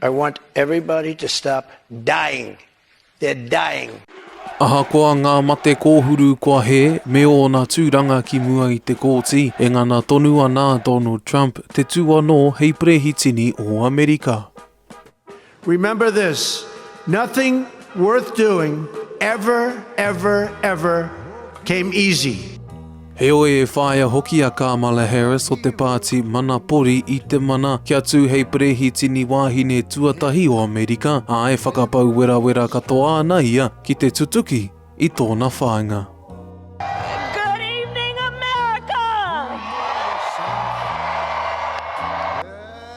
I want everybody to stop dying. They're dying. Ahakoa ngā mate kōhuru kua hē, me ōna tūranga ki mua i te kōti, e ngana tonu ana a Donald Trump te tū anō hei perehitini o Amerika. Remember this, nothing worth doing ever, ever, ever came easy. Heoi e whāia hoki a Kamala Harris o te Pāti Mana Pori i te mana kia tū hei Perehitini wāhine tuatahi o Amerika, ā, e whakapau werawera katoa ana ia ki te tutuki i tōna whāinga.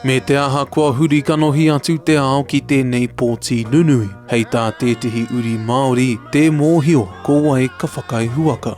Me te aha kua huri kanohi atu te ao ki tēnei pōti nunui, hei tā tētehi uri Māori, tē mōhio ko wai ka whakaihuwaka.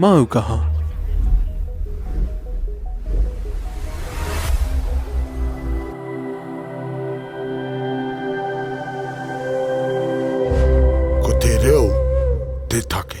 Māu kaha. Ko te reo te take.